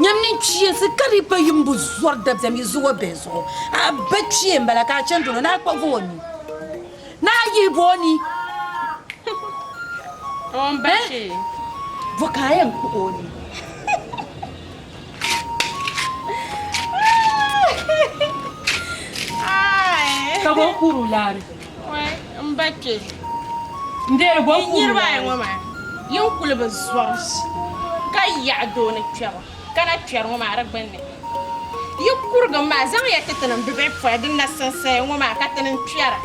Nyam ni kpiinsi ka di pa yimbu zɔri dabiɛm yi zuɣu bihi zuɣu. A ba kpee m-bala ka a chani dolo ni a kpuɣigi o ni ni a yihi ba o ni. O ni ba kpee. Bo ka a yɛn kpuɣi o ni? Ka bo kuri o laari. n ba kpe yi niriba ayi ŋɔ maa yi n kuli bi zɔri ka yaɣi doo ni kpɛbu ka na kpɛri ŋɔ maa di gbunni yi kurigim maa zaŋya ti ti ni bibihi pɔi din na sinsaya ŋɔ maa ka ti ni kpɛra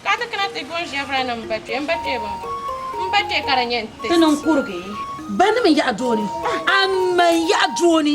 ka ti kana ti gɔn ʒɛvira ni n ba kpe m ba kpe bini bɔ m ba kpe ka di nyɛ n ti ti ni n kurigi. Bɛ ni mi yaɣi doo ni a mi n yaɣi doo ni.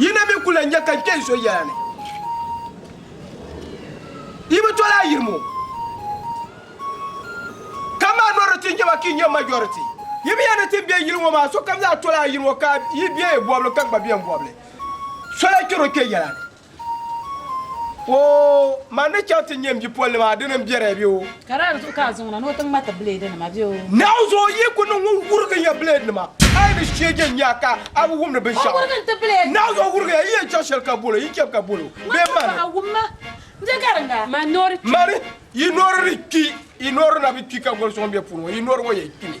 Yi na mi ku lan nya ka n kpe n so yɛla ni. Yi bi tol a yirim o. Ka minority n-nyɛ ba ka yi nyɛ majority. Yi mi ya ni ti be yili ŋɔ maa, sokam zaa tol a yirim o ka yi be bɔbili ka gba be n bɔbili. So lan chɛr o kpe yɛla ni. Woo! Man ni chaŋ ti nyɛ m bipolinim a dini m-be di bɛ o? Ka daa di zuɣu ka a zaŋ na ni o ti ŋmati bileedinima bɛ o? Naawuni zuɣu yi ku niŋ ŋun wurigi ya bileedinima, a yi ni sheege n-nya a ka a bi wumdi binshɛɣu. O wurigi n-ti bileedinima. Naawuni zuɣu wurigi ya, yi yɛn chaŋ shɛli ka bol o, yi chab ka bol o. Bee man. Ŋun paɣi wum ma, n-je gariŋga. Man noori kpi. Man yi noori ni kpi, yi noori na bi kpi ka goli suŋ be puuni ŋɔ, yi noori ŋɔ yɛn kpimi.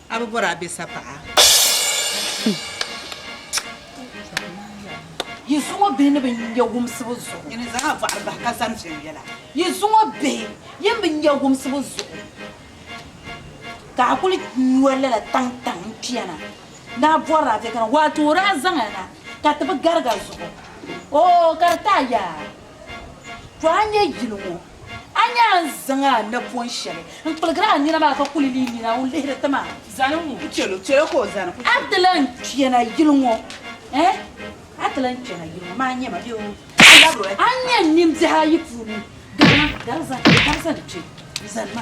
A bi bɔri a be sapaɣa. Yi zuŋ o bihi ni bɛ nya wumsibu zuɣu. Yi ni zaŋ a bɔɣiri bahi ka zani viɛnyɛla. Yi zuŋ o bihi yi ni bi nya wumsibu zuɣu. Ka a kuli nyo lala taŋtaŋ n-kpɛna ni a bɔri a be kana, waato o daa zaŋ a na ka ti bi gariga zuɣu. Oo ka di taai yaa! To a nya yili ŋɔ. A nyaa n-zaŋ a napɔn shɛli n-kpiligir a nina maa ka kuli li nina o lihiri ti ma. Zani ŋun ku chɛl o, chɛl o ka o zani ku chɛ o. A ti lan kpɛna yili ŋɔ, ɛɛh? A ti lan kpɛna yili ŋɔ, maa nyɛ ma bee oo? A labiri o, ɛɛh? A nya n nimbihi ayi puuni, Gari ma, gari zani, gari zani kpe, zani ma.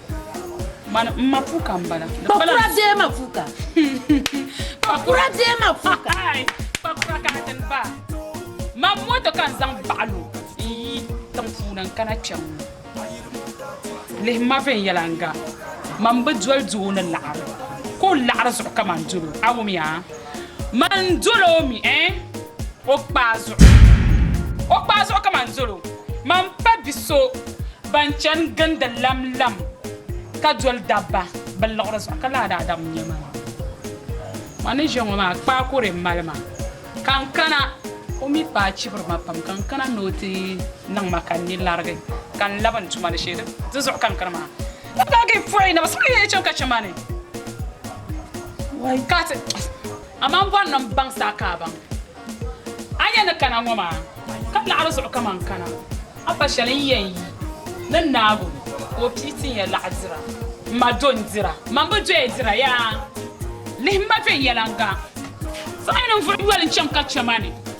Man n ma puka n bala. Kpakura bee ma puka. Kpakura bee ma puka. Kpakura ka n tin ba. Man moto ka n zaŋ baɣalo n yi tiŋ puuni n kana kpɛm ŋɔ. Lihim ma viɛnyɛla n ga. Man bi doli doo ni laɣiri. Ka o laɣiri zuɣu ka man dolo. A wumia? Man n-dol o mi, eh, o kpaa zuɣu. O kpaa zuɣu ka man dol o. Man pa bi so ban chani gindi lamlam ka dol dabba bɛ liɣiri zuɣu, ka laa daa dam nya man. Man ni ʒe ŋɔ maa, kpaa ka o lee mali ma. Ka n kana, o mi paai chibiri ma pam, ka n kana ni o ti niŋ ma ka n ni larigi, ka n labi n tuma ni shee. Di zuɣu ka n kani maa. Ka paagi n pɔi naba suɣili yɛli chaŋ ka chɛ ma ni wai ka ti Amaa m bɔri ni m baŋ sa ka a baŋ a ni yɛn ni kana ŋɔ maa ka laɣiri zuɣu kaman n kana a pa shɛli n yɛn yi ni naagu ka o pii ti n ya laɣa dira m ma do n dira m ma m bi doya dira yaa lihi m ma viɛnyɛliŋga Zaɣ yini n vuri yoli n chaŋ ka chɛ ma ni.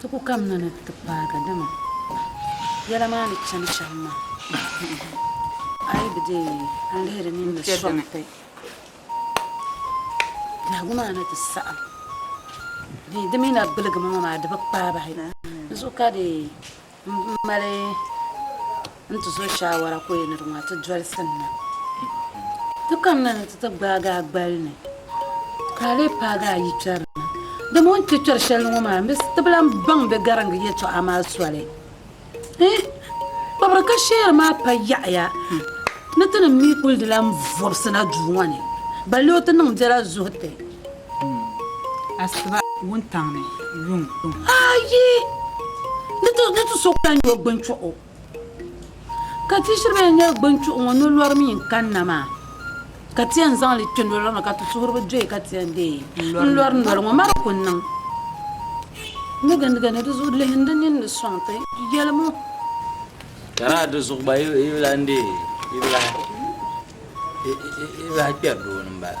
Ti ku kamina ni ti paagi, dama yɛla maa ni chani shɛm maa, a yi bi deei a ni lihiri nini ni sɔŋ ti biɛhigu maa ni ti saɣim dee di mi na gbiligi ma ŋɔ maa di bi kpaabahi. Di zuɣu ka di. Mali n ti so shaawara ka o yɛn ni di ŋɔ a ti dolisi n na. Ti kamina ni ti ti gbaagi a gbali ni ka a lee paagi a yikpɛri na. Dama o ni kpe kpɛri shɛli ni ŋɔ maa, m bi ti bi lan baŋ bɛ gariŋgi yɛtɔɣa maa soli. Hii! Kpabiri ka sheeri maa pa yaɣiya ni ti ni mi kuli di lan vɔbisi na duu ŋɔ ni, balle o ti niŋ biɛla zuhi ti. Asiba wuntaŋ ni yuŋ. Ayi! Ni ti so ka nyɔ gbunchuɣu. Ka ti shiri bɛn nyɛ gbunchuɣu ŋɔ ni lɔri mi n-kanna maa, ka ti yɛn zaŋ li kpe noli ŋɔ ka ti suhuri bi doya ka ti yɛn deei n-lɔri noli ŋɔ. Mari ku niŋ ni gindiga ni di zuɣu lihim di nini ni sɔŋ ti. Yɛli ma o. Ka lala di zuɣu gba yi bi lahi deei, yi bi lahi kpɛri doo ni m-bala.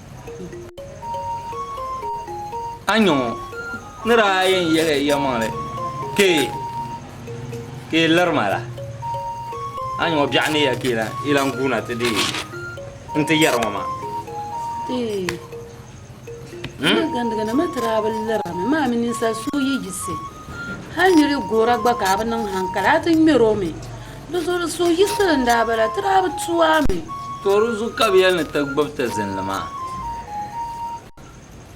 Anyo ni daa yɛn yihi yɛmaŋli kpe ka yi liri ma la, anyo biɛɣu ni ya ka yi lan guuna ti deei n-ti yɛri ŋɔ maa. Eey! N ni gandigana ma ti daa bi liri a mi, maa mi ninsal so yi yiɣisi. Hal nyuli gora gba ka a bi niŋ haŋkali, a ti ŋmɛr o mi. Di zuɣu di suhu yiɣisiri n daa bala, ti daa bi tu a mi. Too di zuɣu ka bɛ yɛli ni ti gbib ti zinli maa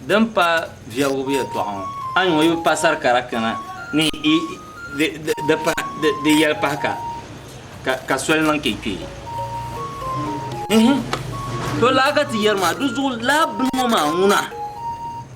din pa viɛbigibu yɛtɔɣa ŋɔ, a nya o yi bi pa sari kara kana ni di yɛli pahi ka, ka soli niŋ ka yi kpe. Ehe! Too laa ka ti yɛri maa, di zuɣu laa bini ŋɔ maa ŋuna.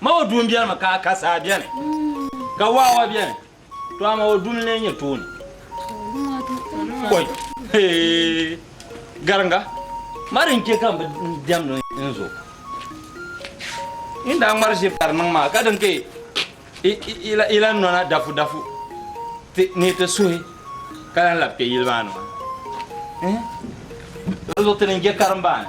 Ma o duu m-beni mi ka a ka saa beni, ka waawa beni, to amaa o duu n-lee nyɛ tooni. Kɔy! Hee! Gariŋga, ma di n-chɛ ka m bi diɛmdi n zo. Yin daa ŋmari ʒiri ka di niŋ maa, ka di ni ka yi lan nɔna dafudafu ni yi ti suhi ka lan labi kpe yili maa ni maa. Ehe! Di zuɣu ti ni je karimbaani.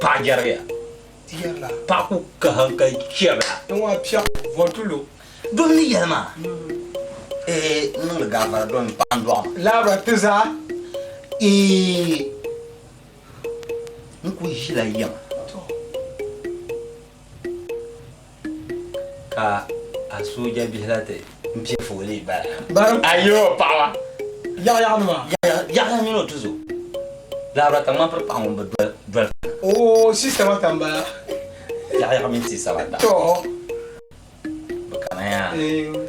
Paɣa jɛrigiya. Ti yɛrila. Paɣa ku ka hankali chɛbila. N ŋɔ piɛɣu vɔntulu. Dom ni yɛli maa. Ehe n niŋdi gaafara dom m paɣa n dɔɣi ma. Laabira ti zaa. Eeh n ku ʒila yɛm. Ka a sooja bihi la ti pɛ foolii bala. A yo paɣaba. Yaɣa yaɣa nima. Yaɣa mini o tuzo. Lahabira ka ŋman piri paɣa ŋun bi doli fina. Oo si sabata m-bala. Yaɣa yaɣa mini si sabata. Too. Bi kana ya. Eew.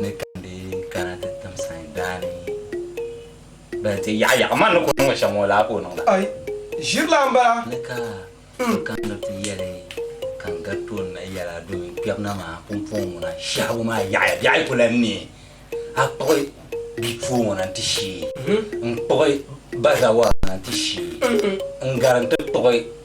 ni ka di kana ti tim sayin daani bali ti yaɣa yaɣa man ni ku niŋ shɛm ŋɔ laa ka o niŋ la ai ʒirila n bala ni ka ti kaniri ti yɛli ka n gari tooni na yɛla domin kpɛbu na maa pumpɔŋ ŋuna shɛhigu maa yaɣaya biɛɣu ku lan ni a kpuɣi bipuɣi ŋɔ na ti shee n kpuɣi bazawara na ti shee n gari n ti kpuɣi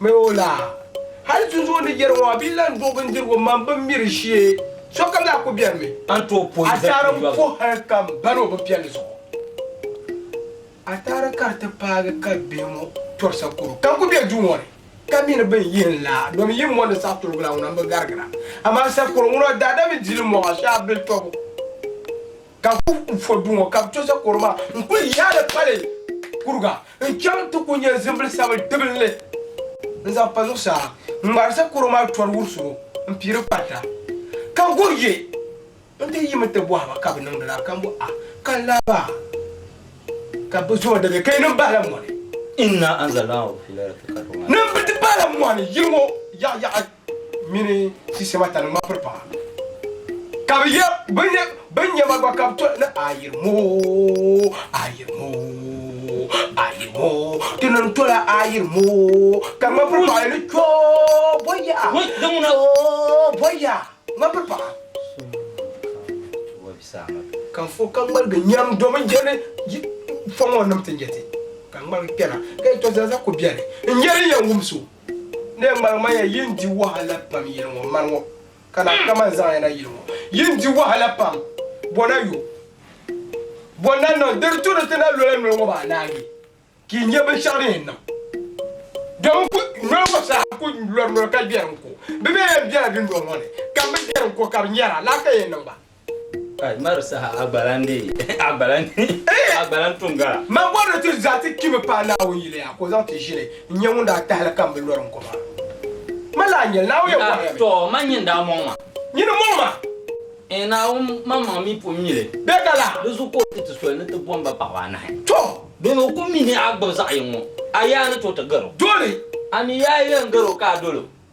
Mɛ o la. Hali tinzuɣu ni yɛri ŋɔ a bi lan duɣi bindirigu mani bin miri shee, sokam daa ku bɛrimi. A tooi puhi hali kam bani o bi piɛli zuɣu. A daa n-puhi hali kam bani o bi piɛli zuɣu. A taara ka di ti paagi ka bihi ŋɔ tɔrisa kɔro ka ku be duu ŋɔ ni ka mi ni bɛ ni yihi n la domi yi mɔndi saɣi tuligila ŋuna m-bi garigira. Amaa sakɔro ŋuna daa da mi dili mɔɣa shee a bili tɔbu. Ka bɛ kul fo du ŋɔ ka bɛ to Zakoro maa n-kul yaai li pali kuriga n-chaŋ nti ku nya zimbili sabili dibinli n-zaŋ pa zuɣusaa n-ŋmaari Zakoro maa tɔri wuri solo m-pii di kparita. Ka Gor ye n-ti yim nti bɔhi ba, Ka bɛ niŋdi lala? Ka m-bɔh a, Ka laba ka bɛ zo dagi ka yi nin bahila mɔni. Inna anzalnahu fi laylati lqadr maa. Ni bɛ ti bahila mɔni yili ŋɔ yaɣiyaɣi. mini sisema tani ŋma piri paɣa, ka bɛ ye binniɛma gba ka bɛ to ni ayirimo, ayirimo, ayirimo, ti ni tola ayirimo, ka ŋma piri paɣa ni kyo bɔ ya, kyo bɔ ya, ŋma piri paɣa. Ka fo ka ŋmaligi nyam domin je ni yi fɔŋ o nim ti nyɛ ti, ka ŋmaligi kpɛna ka yi to zaliza ko biɛni n-nyɛ din yɛn wum so. N lee ŋmaliŋmanya yi ni di wahala pam yili ŋɔ mani ŋɔ, ka lahi kaman zaŋ ya na yili ŋɔ. Yi ni di wahala pam, bɔ na yo. Bɔ n-na niŋ di di tu ni ti na lola noli ŋɔ maa naanyi, ka yi nya binshɛɣu din yɛn niŋ. Dama n ku, noli ŋɔ saha n ku lɔri noli ka biɛri n-ko. Bɛ mi yɛn biɛla dundɔŋ ŋɔ ni, ka m bi biɛri n-ko ka bɛ nyara, lala ka yɛn niŋ ba. Kai mari saha a gba lan dee a gba lan a gba lan tuŋ gala. Man bɔri ni ti zaa ti kpi mi paai Naawuni yili yaa ka o zaŋ ti ʒili n-nyɛ ŋun daa tahili ka m bi lɔri n ko maa. Man lahi nyɛli, Naawuni yɛn bɔhiri ya mi. Tɔɔ man nyin daa mɔŋ ma. Nyin n-mɔŋ ma. Ɛɛn Naawuni, man maŋ mi pun mi li. Bɛ ka la. Di zuɣu ka o ti ti soli ni ti bom ba paɣaba anahi. Tɔɔ! Doni o ku mi ni a gbib zaɣ yiŋ ŋɔ, a yaa ni tooi ti gar o. Doli! A mi yaa yɛn gar o ka a dol o.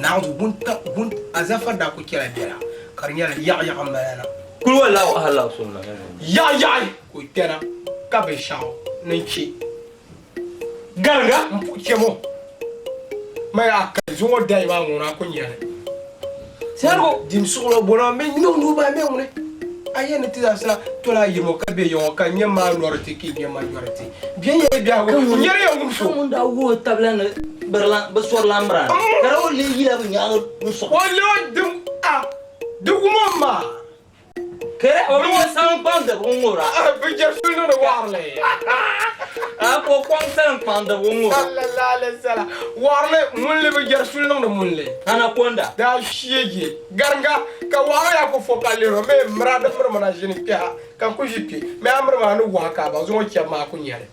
Naawuni wun azafa daa kul chɛla biɛla, ka di nyɛla yaɣiyaɣi m-bala na. Kulwa laɣu ahilaɣu so n-lahi nya ŋun yaɣiyaɣi ka o kpɛna, ka binshɛɣu ni chɛ gariga m-puhi chɛ o. Maya a kali zuŋɔ dayi maa ŋun a kul nya li. Tɛrigu dim suɣulo bɔna o mini nyɔŋ nuhi maa mɛ ŋuni? A yɛn ni ti zaa sa toli a yɛm o ka bɛ yɛŋ o ka nyɛm a nɔri ti ki nyɛm a nyɔri ti bɛ nyɛli biɛhigu o nyɛri ya ŋun so. Ka ŋun daa wuhi o tabila ni birilan bi sɔri lan mira ni, ka daa o leei yila bi nyaanga n-sɔɣi. O leei o dim a di wum o maa. Kere o mini o salinkpaŋdiba n-ŋubira. A ka o kɔŋ salinkpaŋdiba n-ŋubira. Waɣiri ŋunli bi jɛri suli niŋdi ŋunli. Anaconda. Daa shie je gariŋga ka waɣiri yaa ku fo ka lihir o mi miri a di miri mi na ʒini kpɛha ka n ku ʒi kpe mi a miri mi a ni wahi ka a ba zuŋɔ chɛbu maa ku nya li.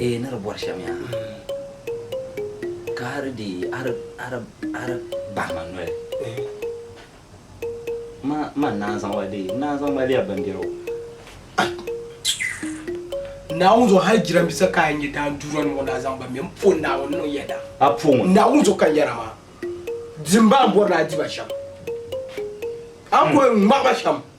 Ee ni di bɔri shɛm ya ha, ka hali di yi a di bahi ma noli, ma ni naan zaŋ ba deei, n-naan zaŋ mali ya bimbɛro. Naawuni zuɣu hali jirambisa ka a yi nya daa duura ni ŋɔ ni a zaŋ ba mɛ, m po Naawuni niŋ ya daa. A po ŋun? Naawuni zuɣu ka n yɛra maa. Dimba a ni bɔri ni a di ba shɛm, a ni bɔri ŋmahi ba shɛm.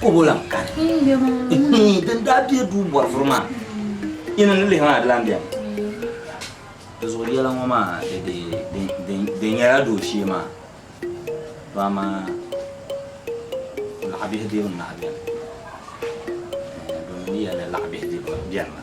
Kobo lan kani. Din daa bɛ duu bɔrifuri maa, yi ni ni lihi maa di lan bɛmi. Di zuɣu yɛla ŋɔ maa di nyɛla dooshee maa dɔɣi maa laɣibihi dibu n-lahi bɛni. Domin di yɛli ni laɣibihi dibu bɛni maa.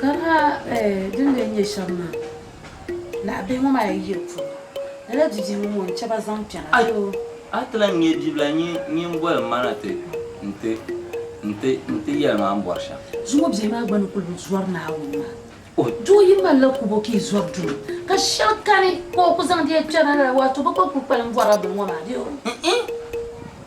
Kamina din lee nyɛ shɛm maa, naɣ bihi ŋɔ maa yi yiri puuni, lala didii ŋɔ ŋun chɛ ba zaŋ kpɛna a ti o. A ti lan ŋme bibila nyin nyin boli ma na ti nti nti nti yɛli ma m bɔri shɛm. Zuŋɔ bihi maa gba ni kul bi zɔri Naawuni maa. O doo yi mali la kubo ka yi zɔri duma, ka shɛli kani ka o ku zaŋdi ya kpɛna lala, waato bɛ gba kul kpalim bɔrila bini ŋɔ maa bee? N-ih!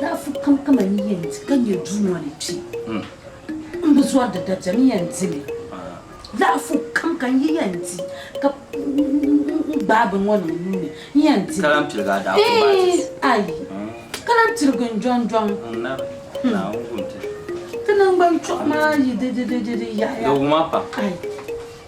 Daafu kamkama ni yɛn di ka nyɛ Duuma ni kpi m bi zɔri di dabɛm n yɛn di li. Daafu kam ka n yi yɛn di ka n gbaai bini ŋɔ niŋ n nuu ni n yɛn di li. Ayi! Ka lahi pirigi n jɔŋjɔŋ. Di naŋgban chuɣu maa yi di di yaɣiya. Ayi!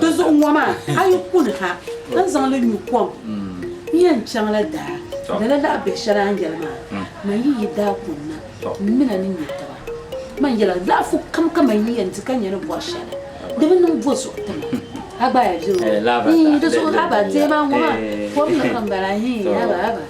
Di zuɣu ŋɔ maa, a yi kuni ha ka n zaŋ li nyu kom, n yɛn chaŋla daa. Lala lahi biɛ shɛli a ni yɛli maa, man yi yi daa kuni na, m min a ni nya taba. Man yɛla laɣifu kam ka man yi yɛn di ka nya ni bɔri shɛli, di bi niŋ bo zuɣu ti ma? A gba a yɛn viri o? Hii, di zuɣu haba deei maa ŋɔ maa, kom ni ka m bala hii, haba, haba.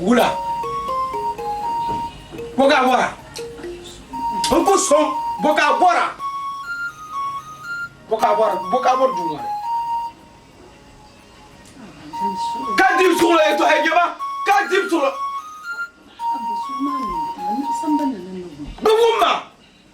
Wula boka bora n ku soŋ boka bora boka bora boka bora duu ŋɔ ni ka dibi suɣulo yɛ tɔhi jɛma ka dibi suɣulo bi wumma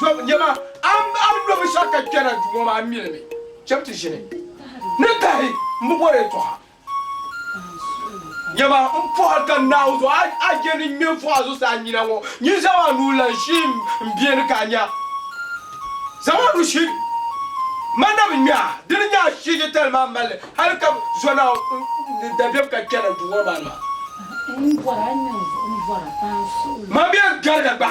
Zom nyɛma, a ni lo binshɛɣu ka kpɛna duu ŋɔ maa mini mi cham ti ʒini ni tahi m-bi bɔri yɛtɔɣa. Nyɛma, m pɔhiri ka Naawuni zuɣu, a a je ni ŋme m-fɔh a zuɣusaa nyina ŋɔ, nyin zaŋm a nuu lan shihi m biɛni ka a nya. Zaŋm a nuu shihi m ma na bi ŋme a, di ni nya a shihi yɛtali maa mal li hal ka bi zo Naawuni ni dabiɛm ka kpɛna duu ŋɔ maa ni maa. Mabia gariga gba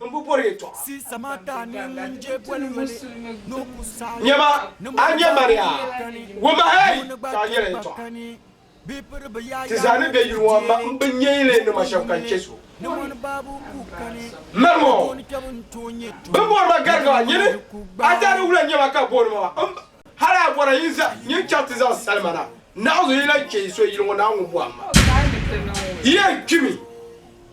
n bi bɔri yɛtɔɣa. Nyama, a nya Maria, wumahɛi ka a nyɛla yɛtɔɣa. Ti zaa ni be yuli ŋɔ m ma mbi nyɛyili nima shɛb ka n chɛ so. Mali ŋɔ, bɛ bɔri ma Gariga, nyini a zaa ni wula nyama ka booni ma m ba. Hali a bɔra yi zaa nyin chaŋ ti zaŋ salima na naɣizu yi lan chɛ yi so yili ŋɔ naa ŋun bɔhi m ma. Yi yɛn kpimi.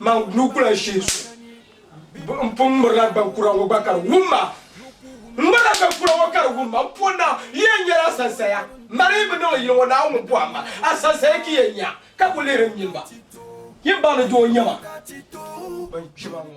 Man nuu ku lan shihi so, n pun ŋmirila gban kura ŋɔ gba ka di wum ma. N ŋmirila gban kura ŋɔ ka di wum ma, n pɔri na, n yɛn nyɛla asansaya. M ma di yi bi niŋ li yili ŋɔ, Naawuni ŋun pɔhim ma, asansaya ki yɛn nya, ka ku lihiri n nyini ba. Yin ba ni doo nyɛ ma, bɛn kpi ma ŋɔ.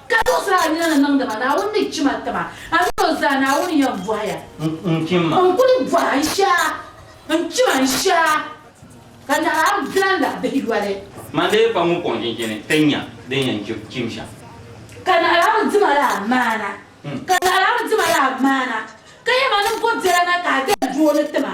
Ka zuɣusaa nina ni niŋdi ma, Naawuni ni chim a tiba, a mini o zaa, Naawuni yɛn bɔhi ya. N chim ma. N kuli bɔhi a, n shia, n chim a, n shia, ka nahi a bilan la bihi yoli. Man di yi pa ŋun kɔŋ chinchini ti nya din yɛn chim shɛm. Ka nahi a bi di ma laa maana, ka nahi a bi di ma laa maana, ka yɛ ma ni bɔ biɛla na ka a dali dooni ti ma.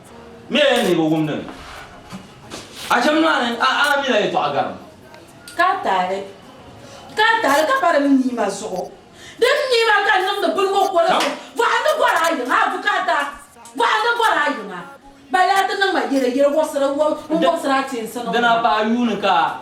Mɛ ya ni bɛ wum ni a cham maa ni a a mila yɛtɔɣa garim. Ka tahili, ka tahili ka pa di mi niima zuɣu. Di mi niima ka n niŋdi biligu koligu. Bɔhindi bɔri a yiŋa, Bukata, bɔhindi bɔri a yiŋa. Ba yaa ti niŋ ma yele, yele wɔbisira, n wɔbisira a teensi niŋ ma. Dina paai yuuni ka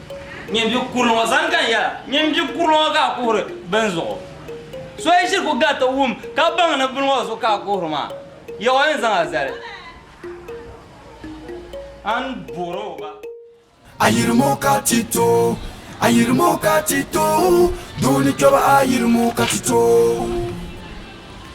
Ŋun bi kuri ŋɔ zaŋ gani yɛla, ŋun bi kuri ŋɔ ka a kuhiri bini zuɣu? So yi ʒiri ku gari ti wum ka baŋ ni bini ŋɔ zuɣu ka a kuhiri maa, Yawɛ ni zaŋ a zali. A ni boori o ba. Ayirimo ka ti to, ayirimo ka ti to, doo ni kpɛba ayirimo ka ti to.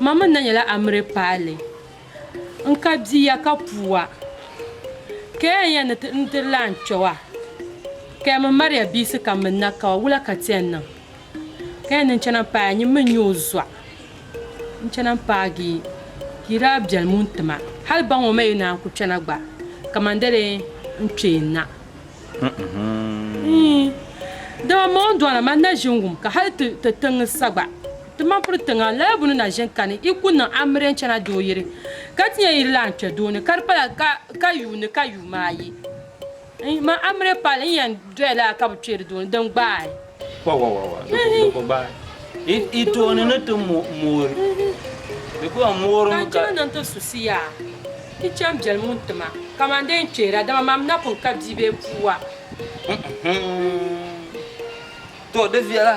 Mamin na nyɛla Amire paali n ka bia ya ka puua ka ya n ya ni ti n diri la n kpewa ka ya min Maria biisi ka min na kawa wula ka ti ya niŋ ka ya ni n chana n paai a nyin min nyɛ o zuɣa n chana n paagi ka yi daa bɛlim n ti ma hali baŋ o ma yi naan ku kpɛna gba kaman dali n kpee na dama ma o ni dɔna ma na ʒin wum ka hali ti tiŋ sa gba. Ti ma puri tiŋa lala bu ni na ʒin kani, i ku niŋ amire n-chana doo yiri, ka ti nya yiri lahi n-kpe doo ni, ka di pala ka ka yuuni ka yuum maa yi. N ma amire pali n yɛn doya lala ka bi kpeeri doo ni, din gbaai. Wawawawa, di ku di ku gbaai. I tooni ni ti moori, di ku yɛn moori mi ka. Ka n chana ni n ti suhisi ya, ti chani biɛli muni ti ma, kaman dee n kpeera, dama mam na pun ka bia bee puu wa. Huŋ, huŋ, to di viɛla.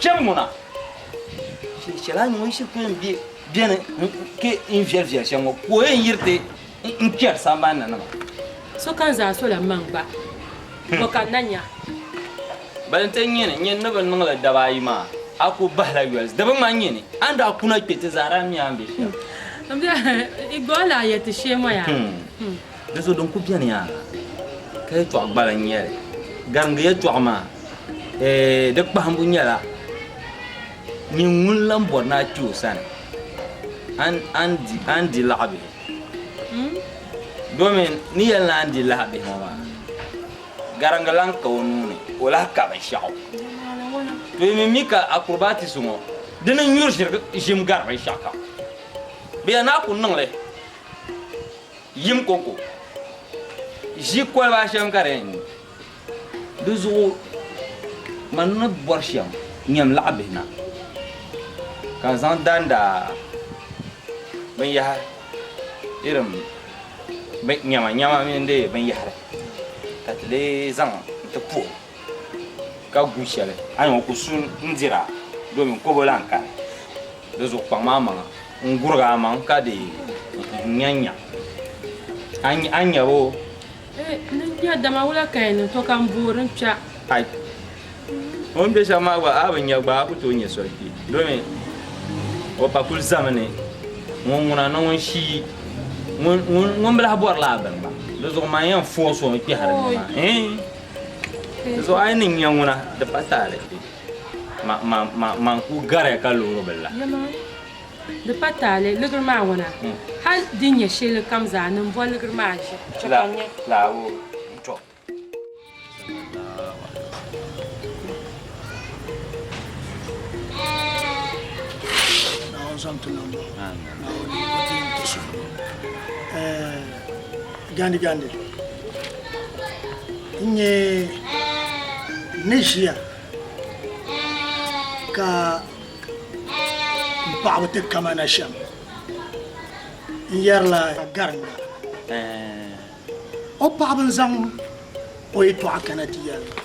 Chɛ ŋuna, shiri shɛli a ni ŋun shiri kpɛm be beni n-ke n viɛli viɛli shɛm ŋɔ, ka o yɛn yiri ti n kpɛri sambani ni nima. Sokam zaa sola m-maŋ gba, bɔ ka n na nya? Bali n-ti nyini nyini ni bɛ niŋ li daba ayi maa, a ku bahila yoli. Di bi ŋmani nyini a ni daa kuna kpe ti zaa daa mi a ni be shɛm. Igbɔɔlaa yɛti sheemɔya. Di zuɣu din ku beni yaa ka yɛtɔɣ gbala n-nyɛ li. Garimgi yɛtɔɣ maa, eeh, di kpahimbu nyɛla, Nyin ŋun lan bɔri ni a kpi o sani, a ni, a ni di, a ni di laɣibihi. Domin ni yɛli ni a ni di lahibihi ŋɔ maa, garimgi lan ka o nuu ni o lahi ka binshɛɣu. To yi mi mi ka acrobatics ŋɔ, di ni nyuri ʒirigi ʒim gari binshɛɣukam. Bɛ ya ni a ku niŋ li. Yim koko ʒi koliba shɛm ka di yɛn nyu. Di zuɣu man ni bɔri shɛm nyam laɣ bihi na ka zaŋ danda binyɛhiri irin nyama nyama mini di binyɛhiri ka ti lee zaŋ n-ti puhim. ka gu shɛli a ni ŋɔ ku su n-dir a domin kobo lan kani. Di zuɣu kpaŋm a maŋa n-gurig a maŋ ka di n-nyanya a nyab o. N nya dama wula ka yi niŋ to ka m boori n kpɛɣ? Ai! O ni be shɛm maa gba a bi nya gba a ku tooi nya soli kpi domin o pa kul zami ni ŋun ŋuna ni ŋun shii ŋun bi lahi bɔri lala bini maa. Di zuɣu man yɛn foosi o n-kpɛhiri ni maa. Zuɣu a yi ni nya ŋuna, di pa taali. Ma, ma, ma, ma n-kul gariya ka loori bɛ la. Yama, di pa taali, liɣiri maa ŋuna. Hal di nya shɛli kam zaa ni m-bɔ liɣiri maa ʒi, chɛ ka n nya. La, la, o, tɔ. Naawuni zaŋ ti niŋ ba. Amin. Naawuni o ti yɛn ti so. Ɛɛh. Gandi gandi n nyɛ ni ʒiya ka n paɣaba ti kama na shɛm n yɛrila garinda o paɣaba n zaŋ o yɛtɔɣa kana ti yɛli ba.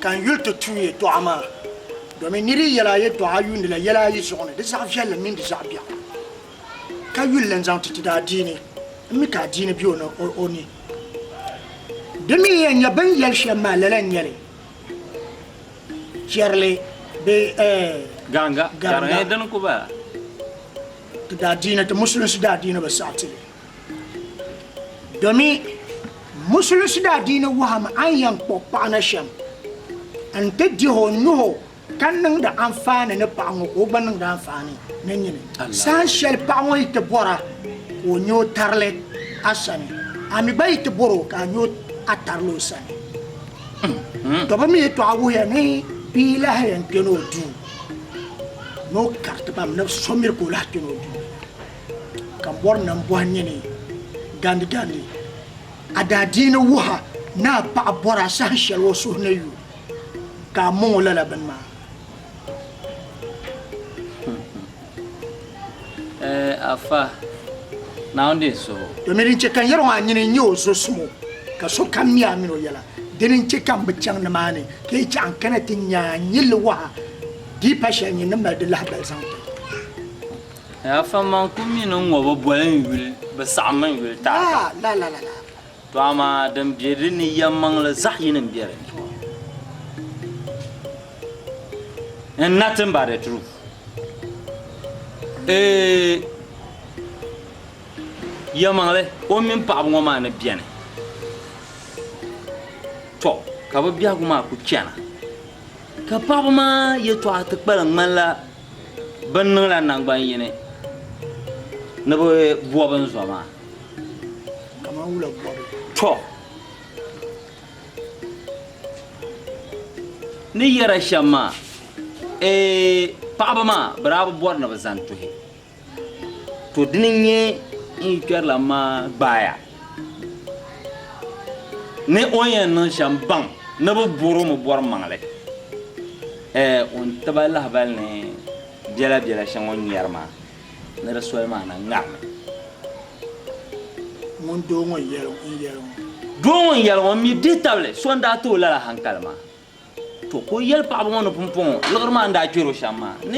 Ka n yuli ti tuui yɛtɔɣa maa, domin nir yi yɛl a yɛtɔɣa a yuundila yɛl a yi zuɣu ni, di zaɣ viɛlli mini di zaɣ biɛɣu, ka yuli lan zaŋ ti ti daadiini, m mi ka adiini be o ni. Di mi yɛn nya bɛ ni yɛli shɛm maa lala n-nyɛ li, Chɛrili bee ɛɛh? Gaŋga, ka di nyɛ din ku ba? Ti daadiini, ti Musulinsi daadiini bi saɣi ti li. Domi musulinsi daadiini wɔhim a ni yɛn kpuɣi paɣa na shɛm n-ti dihi o nuhi ka niŋdi anfaani ni paɣa ŋɔ ka o gba niŋdi anfaani ni nyini. Saha shɛli paɣa ŋɔ yi ti bɔr a ka o nya o tarili a sani, a mi gba yi ti bɔr o ka a nya a tarili o sani. Domi yɛtɔɣa wuhiya ni bia lahi yɛn kpɛni o duu ni o kariti ba mi ni so miri ka o lahi kpɛni o duu. ka mɔri nam bɔhi nini gandigandi, a daa dii ni wuh a ni a paɣa bɔri a saha shɛli o suhu ni yu ka a mɔŋ o lala bini maa. Ɛɛ Afa, Naawuni dii suh o. Domin din chɛ ka n yɛr ŋɔ a nini n-nyɛ o zo sum o, ka sokam mi a min o yɛla. Dini n-chɛ ka m bi chaŋ nimaani ka yi chɛ a n kana ti nya a nyilli waha dii pa shɛli nyin ni mali di lahibal zaŋ ti. Yafa ma n ku mini n ŋɔ bi boli n yuli, bi saɣimmi n yuli taata. To amaa din be di ni yɛmmaŋli zaɣ yini m-be di ni. And nothing but the truth. Ee, yɛmaŋli o mini paɣiba ŋɔ maa ni beni. To ka bi biɛhigu maa ku chana, ka paɣiba maa yɛtɔɣa ti kpalim ŋmanila Bɛ ni niŋla naŋgban yini ni bɛ bɔbi n zɔ maa? Kaman wula bɔbu? Tɔ! Ni yɛra shɛm maa, Eeh! Paɣaba maa, bɛ daa bi bɔri ni bɛ zani tuhi. To dini n nyɛ n yi kpɛrila maa gbaaya ni o ni yɛn niŋ shɛm baŋ ni bɛ bɔr o mi bɔri maŋli ɛɛ o ni ti ba lahibali ni biɛla biɛla shɛŋa o ni nyɛri maa ni di soli maa na ŋarimi. Ŋun doo ŋɔ n yɛli ŋɔ n yɛli ŋɔ. Doo ŋɔ n yɛli ŋɔ n mi dihi tabili so n daa ti o lala hankali maa. To ka o yɛli paɣaba ŋɔ ni pumpɔŋɔ liɣiri maa ni daa kpɛr o shɛm maa ni.